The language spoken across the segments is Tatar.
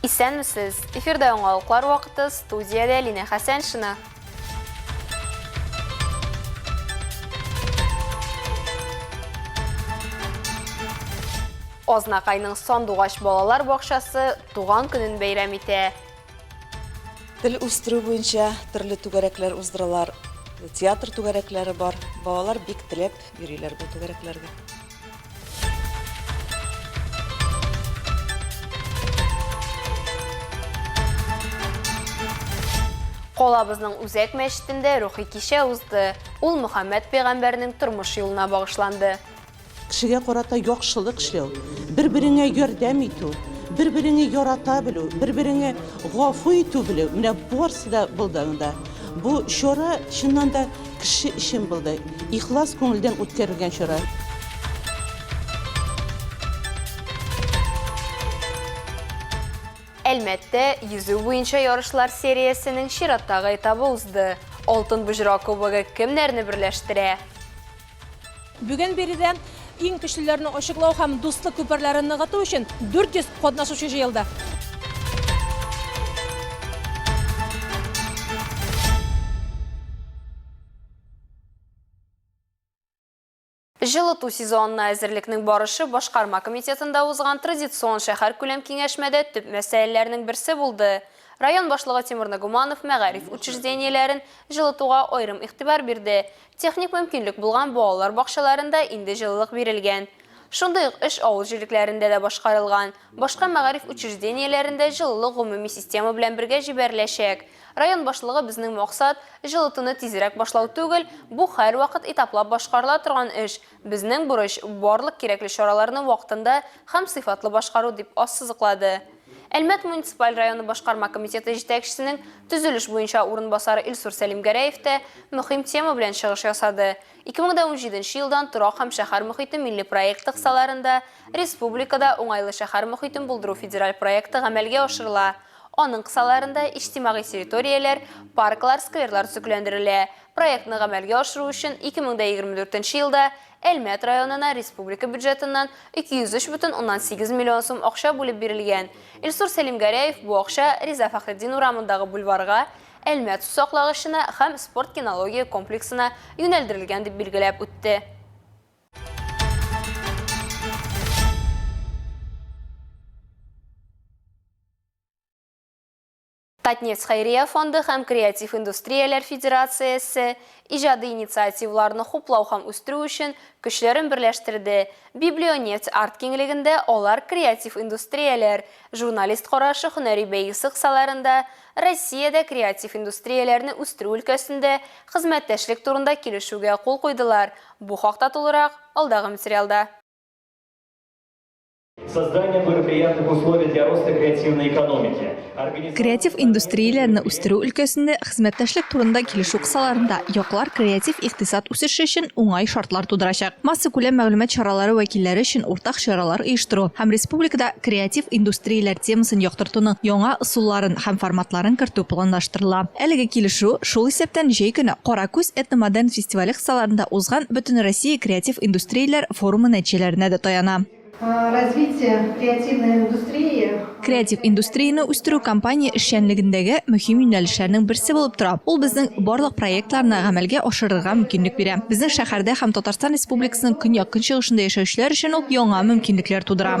Исәнмесез! Эфирда яңалыклар вакыты, студиядә Лина Хәсәншина. Азнакайның Сандугач балалар бакчасы туган көнен бәйрәм итә. Тел үстерү буенча төрле түгәрәкләр уздыралар, театр түгәрәкләре бар. Балалар бик теләп йөриләр бу түгәрәкләргә. Калабызның үзәк мәчетендә рухи кичә узды. Ул Мөхәммәд пәйгамбәрнең тормыш юлына багышланды. Кешегә карата яхшылык эшләү, бер-береңә ярдәм итү, бер-береңе ярата белү, бер-береңе гафу итү белү, менә барсы да булды анда. Бу чара, чыннан да, Кеше өчен болдай ихлас күңелдән үткәрелгән чара. Әлмәттә йөзү буенча ярышлар сериясенең чираттагы этабы узды. Алтын боҗра кубогы кемнәрне берләштерә? Бүген биредә иң көчлеләрне ачыклау һәм дуслык күперләрен ныгыту өчен 400 катнашучы җыелды. Җылыту сезонына әзерлекнең барышы Башкарма комитетында узган традицион шәһәркүләм киңәшмәдә төп мәсьәләләрнең берсе булды. Район башлыгы Тимур Нагуманов мәгариф учреждениеләрен җылытуга аерым игътибар бирде. Техник мөмкинлек булган балалар бакчаларында инде җылылык бирелгән. Шундый ук эш авыл җирлекләрендә дә башкарылган. Башка мәгариф учреждениеләрендә җылылык гомуми система белән бергә җибәреләчәк. Район башлыгы безнең максат, җылытуны тизрәк башлау түгел, бу һәрвакыт этаплап башкарыла торган эш, безнең бурыч, барлык кирәкле чараларны вакытында һәм сыйфатлы башкару, дип ассызыклады. Әлмәт муниципаль районы башкарма комитеты җитәкчесенең төзелеш буенча урынбасары Илсур Сәлимгәрәев тә мөһим тема белән чыгыш ясады. 2017 елдан Торак һәм шәһәр мохите милли проекты кысаларында республикада Уңайлы шәһәр мохитен булдыру федераль проекты гамәлгә ашырыла. Аның кысаларында иҗтимагый территорияләр, парклар, скверлар төзекләндерелә. Проектны гамәлгә ашыру өчен 2024 елда Әлмәт районына республика бюджетыннан 203,8 миллион сум акча бүлеп бирелгән. Илсур Сәлимгәрәев бу акча Риза Фәхретдин урамындагы бульварга, Әлмәт сусаклагычына һәм спорт-кинология комплексына юнәлдерелгән дип билгеләп үтте. Татнефть хәйрия фонды һәм Креатив индустрияләр федерациясе иҗади инициативларны хуплау һәм үстерү өчен көчләрен берләштерде, Библионефть арт-киңлегендә алар Креатив индустрияләр, Журналист карашы һөнәри бәйгесе кысаларында Россиядә креатив индустрияләрне үстерү өлкәсендә хезмәттәшлек турында килешүгә кул куйдылар, бу хакта тулырак, алдагы материалда. Создание благоприятных условий для роста креативной экономики. Креатив индустрияләрне үстерү өлкәсендә хезмәттәшлек турында килешү кысаларында яклар креатив икътисад үсеше өчен уңай шартлар тудырачак. Массакүләм мәгълүмат чаралары вәкилләре өчен уртак чаралар оештыру һәм республикада креатив индустрияләр темасын яктыртуның яңа ысулларын һәм форматларын кертү планлаштырыла. Әлеге килешү, шул исәптән җәй көне Кара күз этномодерн фестивале кысаларында узган Бөтенроссия креатив индустрияләр форумы нәтиҗәләренә дә таяна. Развитие креативной индустрии. Креатив индустрияне үстерү компания эшчәнлегендәге мөһим юнәлешләрнең берсе булып тора. Ул безнең барлык проектларны гамәлгә ашырырга мөмкинлек бирә. Безнең шәһәрдә һәм Татарстан Республикасының көньяк-көнчыгышында яшәүчеләр өчен ул яңа мөмкинлекләр тудыра.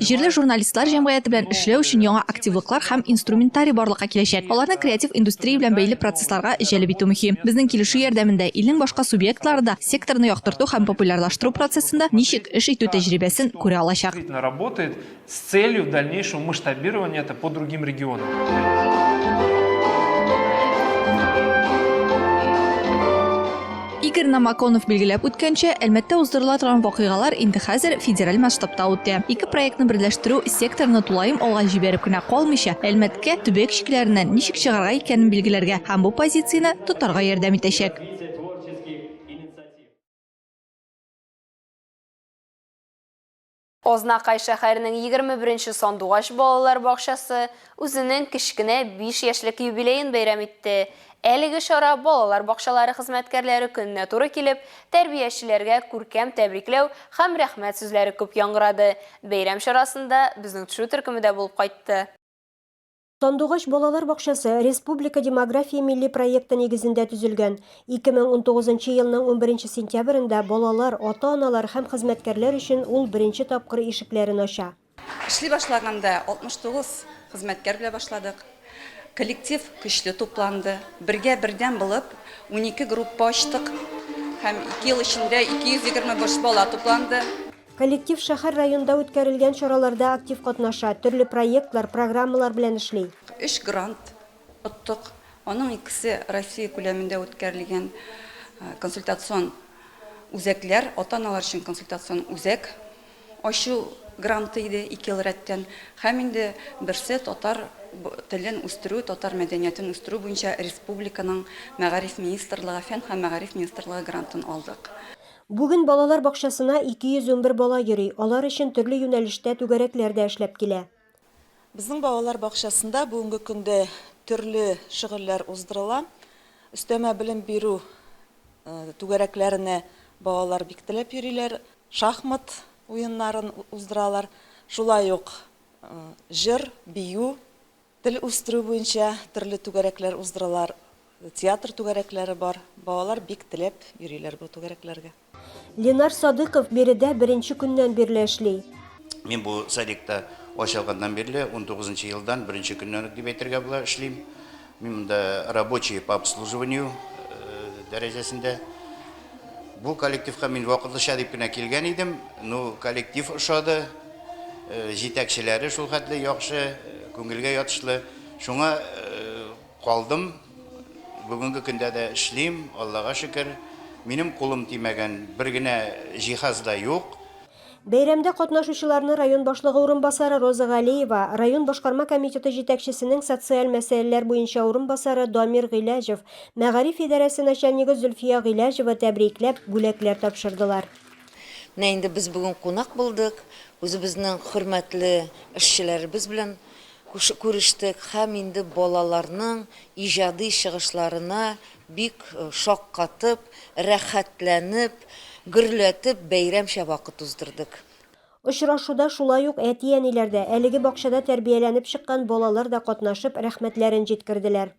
Җирле журналистлар җәмгыяте белән эшләү өчен яңа активлыклар һәм инструментарий барлыкка киләчәк. Аларны креатив индустрия белән бәйле процессларга җәлеп итү мөһим. Безнең килешү ярдәмендә илнең башка субъектлары да секторны яктырту һәм популярлаштыру процессында ничек эш итү тәҗрибәсен күрә алачак. Игорь Намаконов билгеләп үткәнчә, Әлмәттә уздырыла торган вакыйгалар инде хәзер федераль масштабта үтә. Ике проектны берләштерү секторны тулаем алга җибәреп кенә калмыйча, Әлмәткә төбәк чикләреннән ничек чыгарга икәнен билгеләргә һәм бу позицияне тотарга ярдәм итәчәк. Азнакай шәһәренең егерме беренче сандугач балалар бакчасы үзенең кечкенә биш яшьлек юбилеен бәйрәм итте. Әлеге чара балалар бакчалары хезмәткәрләре көненә туры килеп, тәрбиячеләргә күркәм тәбрикләү һәм рәхмәт сүзләре күп яңгырады. Бәйрәм чарасында безнең төшү төркеме дә булып кайтты. Сандугач балалар бакчасы Республика демография милли проекты нигезендә төзелгән. 2019 елның 11 сентябрендә балалар, ата-аналар һәм хезмәткәрләр өчен ул беренче тапкыр ишекләрен ача. Эшли башлаганда 69 хезмәткәр белән башладык. Коллектив көчле тупланды. Бергә бердәм булып, унике группа ачтык һәм ике ел эчендә 225 бала тупланды. Коллектив шәһәр-районда үткәрелгән чараларда актив катнаша, төрле проектлар, программалар белән эшли. Өч грант оттык, аның икесе Россия күләмендә үткәрелгән консультацион үзәкләр, ата-аналар өчен консультацион үзәк ачу гранты иде ике ел рәттән һәм инде берсе татар телен үстерү, татар мәдәниятен үстерү буенча республиканың Мәгариф министрлыгы, Фән һәм мәгариф министрлыгы грантын алдык. Бүген балалар бакчасына 211 бала йөри, алар өчен төрле юнәлештә түгәрәкләр дә эшләп килә. Безнең балалар бакчасында бүгенге көндә төрле шөгыльләр уздырыла. Өстәмә белем бирү түгәрәкләренә балалар бик теләп йөриләр, шахмат уеннарын уздыралар, шулай ук җыр, бию, Тел үстерү буенча төрле түгәрәкләр уздыралар, театр түгәрәкләре бар. Балалар бик теләп йөриләр бу түгәрәкләргә. Ленар Садыйков биредә беренче көннән бирле эшли. Мин бу садикта ачылганнан бирле, унтугызынчы елдан, беренче көннән үк дип әйтергә була, эшлим. Мин монда рабочий по обслуживанию дәрәҗәсендә. Бу коллективка мин вакытлыча дип кенә килгән идем, ну, коллектив ошады. җитәкчеләре шулхәтле яхшы, күңелгә ятышлы. Шуңа калдым, бүгенге көндә дә эшлим, Аллага шөкер. Минем кулым тимәгән бер генә җиһаз да юк. Бәйрәмдә катнашучыларны район башлыгы урынбасары Роза Галиева, район башкарма комитеты җитәкчесенең социаль мәсьәләләр буенча урынбасары Дамир Гыйләҗев, мәгариф идарәсе начальнигы Зөлфия Гыйләҗева тәбрикләп, бүләкләр тапшырдылар. Менә инде без бүген кунак булдык, үзебезнең хөрмәтле эшчеләребез белән күрештек һәм инде балаларның иҗади чыгышларына бик шаккатып, рәхәтләнеп, гөрләтеп бәйрәмчә вакыт уздырдык. Очрашуда шулай ук әти-әниләр дә, әлеге бакчада тәрбияләнеп чыккан балалар да катнашып, рәхмәтләрен җиткерделәр.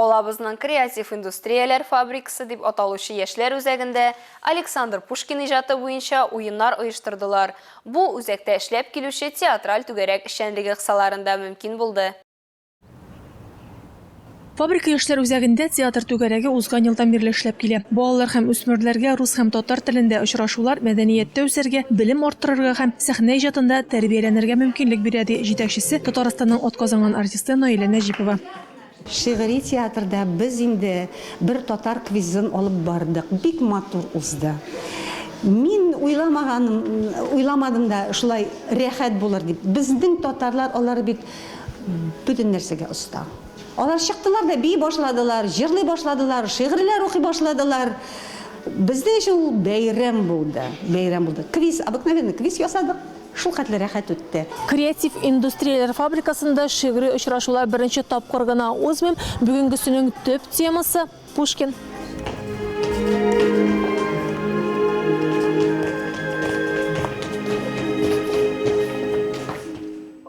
Калабызның Креатив индустрияләр фабрикасы дип аталучы яшьләр үзәгендә Александр Пушкин иҗаты буенча уеннар оештырдылар. Бу, үзәктә эшләп килүче театраль түгәрәк эшчәнлеге кысаларында мөмкин булды. Фабрика яшьләр үзәгендә театр түгәрәге узган елдан бирле эшләп килә. Балалар һәм үсмерләргә рус һәм татар телендә очрашулар, мәдәнияттә үсәргә, белем арттырырга һәм сәхнә иҗатында тәрбияләнергә мөмкинлек бирә, ди җитәкчесе, Татарстанның атказанган артисты Наилә Нәҗипова. Шигъри театрда без инде бер татар квизын алып бардык. Бик матур узды. Мин уйламаганым, уйламадым да шулай рәхәт булыр дип. Безнең татарлар, алар бит бөтен нәрсәгә оста. Алар чыктылар да бии башладылар, җырлый башладылар, шигырьләр укый башладылар. Безнең өчен ул бәйрәм булды, бәйрәм булды. Квиз, обыкновенный квиз ясадык. Шулхәтле рәхәт үтте. Креатив индустрияләр фабрикасында шигъри очрашулар беренче тапкыр гына узмыйм, бүгенгесенең төп темасы, Пушкин.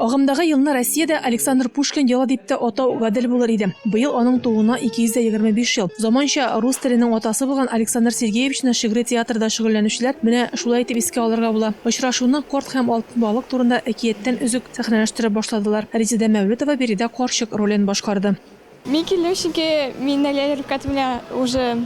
Агымдагы елны Россиядә Александр Пушкин елы дип тә атау гадел булыр иде. Быел аның тууына 225 ел. Заманча рус теленең атасы булган Александр Сергеевичны шигъри театрда шөгыльләнүчеләр менә Шулай итеп искә алырга була. Очрашуны Корт һәм Алтын балык турында әкияттән өзек сәхнәләштереп башладылар. Резеда Мәүлетова биредә карчык ролен башкарды. Мин килдем, чөнки мин Наилә Рифкать белән уже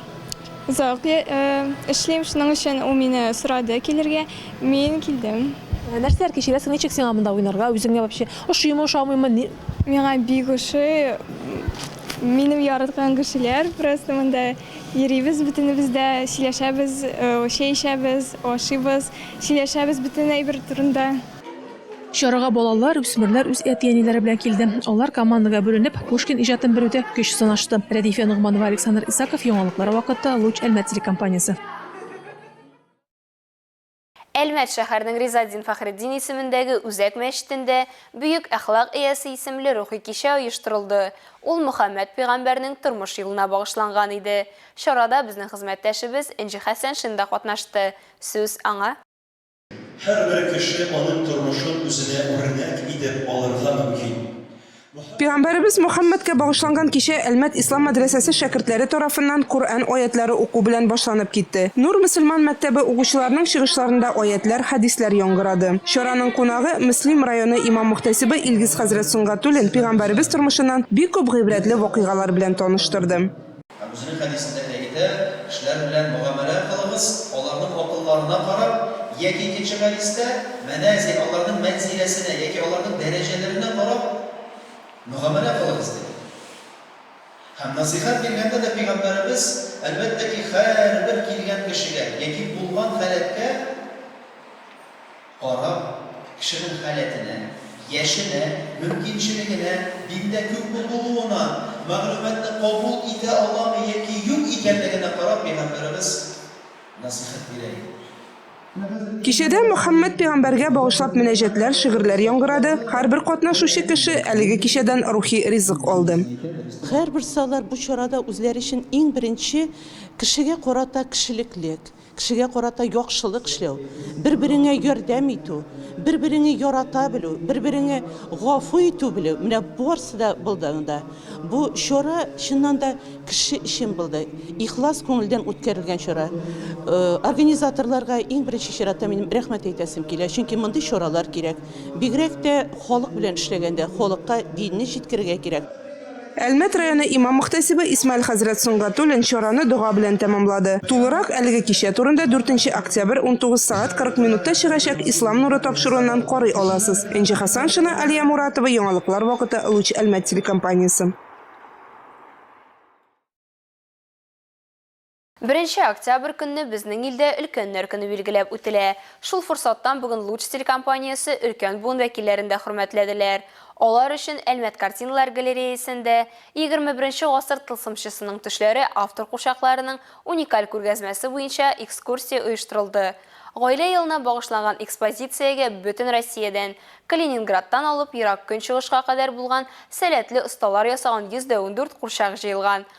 озак эшлим, шуның өчен ул мине сорады килергә, мин килдем. Нәрсәләр кичерәсең, ничек сиңа монда уйнарга, үзеңә вообще ошыймы, ошамыймы? Миңа бик ошый, минем яраткан кешеләр просто монда. Йөрибез бөтенебез дә, сөйләшәбез, чәй эчәбез, ашыйбыз, сөйләшәбез бөтен әйбер турында. Чарага балалар, үсмерләр үз әти-әниләре белән килде. Алар командага бүленеп, Пушкин иҗатын белүдә көч сынашты. Рәдифә Ногманова, Александр Исаков, Яңалыклар вакыты, Луч Әлмәт телекомпаниясе. Әлмәт шәһәренең Ризатдин Фәхретдин исемендәге Үзәк мәчетендә Бөек әхлак иясе исемле рухи кичә оештырылды. Ул Мөхәммәд пөйгамбәрнең тормыш юлына багышланган иде. Чарада безнең хезмәттәшебез Энҗе Хәсәншин да катнашты. Сүз аңа. Һәрбер кеше аның тормышын үзенә үрнәк итеп алырга мөмкин. Пигамбәребез Мөхәммәдкә багышланган кичә Әлмәт Ислам мәдрәсәсе шәкертләре тарафыннан Коръән аятьләре уку белән башланып китте. Нур мөселман мәктәбе укучыларының чыгышларында аятьләр, хәдисләр яңгырады. Чараның кунагы, Мөслим районы имам-мөхтәсибе Илгиз хәзрәт Сөнгатуллин пигамбәребез тормышыннан бик күп гыйбрәтле вакыйгалар белән таныштырды. Һәм үзенең хәдисендә әйтә, Кешеләр белән мөгамәлә кылыгыз, аларның акылларына карап, яки икенче хәдистә, Мәнәзил, аларның мәнзиләсенә, яки аларның дәрәҗәләренә карап мөгамәлә кылыгыз, диде. Һәм насыйхәт биргәндә дә Пәйгамбәребез, әлбәттә ки, һәрбер килгән кешегә, яки булган халәткә, Карап, кешенең халәтенә, яшенә, мөмкинчелегенә, диндә күпме булуына, мәгълүматны кабул итә аламы яки юк икәнлегенә карап пәйгамбәребез насыйхәт бирә иде. Кичәдә Мөхәммәд пәйгамбәргә багышлап мөнәҗәтләр, шигырьләр яңгырады, һәрбер катнашучы кеше әлеге кичәдән рухи ризык алды. Һәрберсе алар бу чарада үзләре өчен иң беренче кешегә карата кешелеклек, Кешегә карата яхшылык эшләү, бер-береңә ярдәм итү, бер-береңе ярата белү, бер-береңе гафу итү белү, менә барсы да булды анда. Бу чара, чыннан да, кеше өчен булды. Ихлас күңелдән үткәрелгән чара. Организаторларга иң беренче чиратта минем рәхмәт әйтәсем килә, чөнки мондый чаралар кирәк. Бигрәк тә халык белән эшләгәндә, халыкка динне җиткерергә кирәк. Әлмәт районы имам-мөхтәсибе Исмаил хәзрәт Сөнгатуллин чараны дога белән тәмамлады. Тулырак әлеге кичә турында дүртенче октябрь 19 сәгать 40 минутта чыгачак Ислам нуры тапшыруыннан карый аласыз. Энҗе Хәсаншина, Алия Муратова, Яңалыклар вакыты, Луч Әлмәт телекомпаниясе. Беренче октябрь көнне безнең илдә Өлкәннәр көне билгеләп үтелә. Шул форсаттан бүген Луч телекомпаниясе өлкән буын вәкилләрен дә хөрмәтләделәр. Алар өчен Әлмәт картиналар галереясендә Егерме беренче гасыр тылсымчысының төшләре автор курчакларының уникаль күргәзмәсе буенча экскурсия оештырылды. Гаилә елына багышланган экспозициягә бөтен Россиядән, Калининградтан алып Ерак Көнчыгышка кадәр булган сәләтле осталар ясаган йөз дә ундүрт курчак җыелган.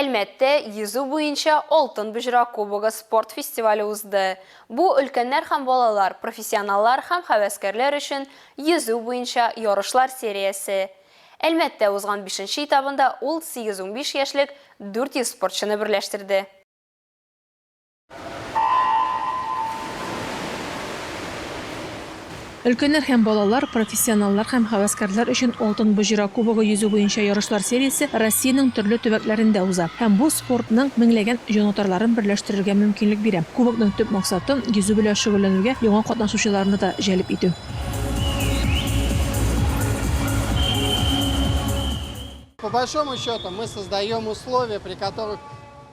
Әлмәттә йөзү буенча Алтын боҗра кубогы спорт фестивале узды. Бу, өлкәннәр һәм балалар, профессионаллар һәм һәвәскәрләр өчен йөзү буенча ярышлар сериясе. Әлмәттә узган бишенче этабында ул сигез-унбиш яшьлек 400 спортчыны берләштерде. Өлкәннәр һәм балалар, профессионаллар һәм һәвәскәрләр өчен Алтын боҗра кубогы йөзү буенча ярышлар сериясе Россиянең төрле төбәкләрендә уза һәм бу спортның меңләгән җанатарларын берләштерергә мөмкинлек бирә. Кубокның төп максаты, йөзү белән шөгыльләнүгә яңа катнашучыларны да җәлеп итү.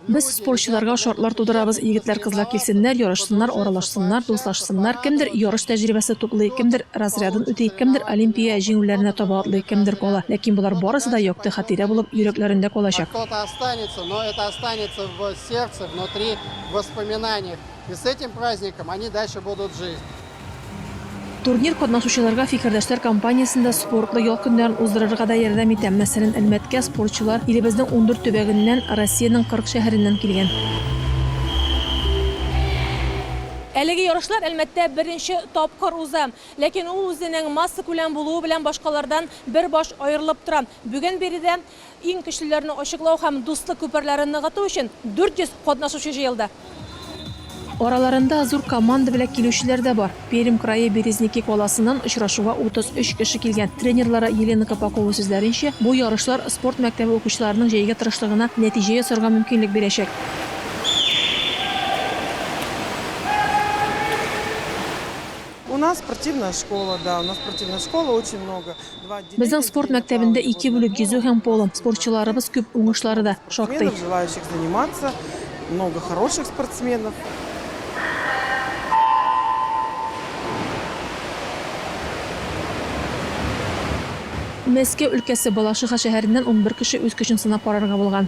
Без спортчыларга шартлар тудырабыз, егетләр-кызлар килсеннәр, ярышсыннар, аралашсыннар, дуслашсыннар, кемдер ярыш тәҗрибәсе туплый, кемдер разрядын үти, кемдер Олимпия җиңүләренә таба атлый, кемдер кала, ләкин болар барысы да якты хатирә булып йөрәкләрендә калачак. Турнир катнашучыларга Фикердәшләр компаниясендә спортлы ял көннәрен уздырырга да ярдәм итә. Мәсәлән, Әлмәткә спортчылар илебезнең ундүрт төбәгеннән, Россиянең кырык шәһәреннән килгән. Әлеге ярышлар Әлмәттә беренче тапкыр уза. Ләкин ул үзенең массакүләм булуы белән башкалардан бер баш аерылып тора. Бүген биредә Иң көчлеләрне ачыклау һәм дуслык күперләрен ныгыту өчен 400 катнашучы җыелды. Араларында зур команда белән килүчеләр дә бар. Пермь крае Березники каласыннан очрашуга 33 кеше килгән. Тренерлары Елена Копакова сүзләренчә, бу ярышлар спорт мәктәбе укучыларының җәйге тырышлыгына нәтиҗә ясарга мөмкинлек бирәчәк. Безнең спорт мәктәбендә ике бүлек, йөзү һәм поло. Спортчыларыбыз күп, уңышлары да шактый. Желающих заниматься много хороших спортсменов. Мәскәү өлкәсе Балашиха шәһәреннән унбер кеше үз көчен сынап карарга булган.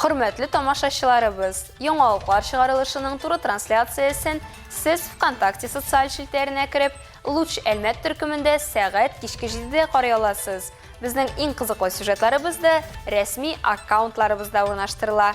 Хөрмәтле тамашачыларыбыз, яңа уклар чыгарылышының туры трансляциясен сез ВКонтакте социаль челтәренә кереп, Луч Әлмәт төркемендә сәгать кичке 7-дә карый аласыз. Безнең иң кызыклы сюжетларыбыз да рәсми аккаунтларыбызда урнаштырыла.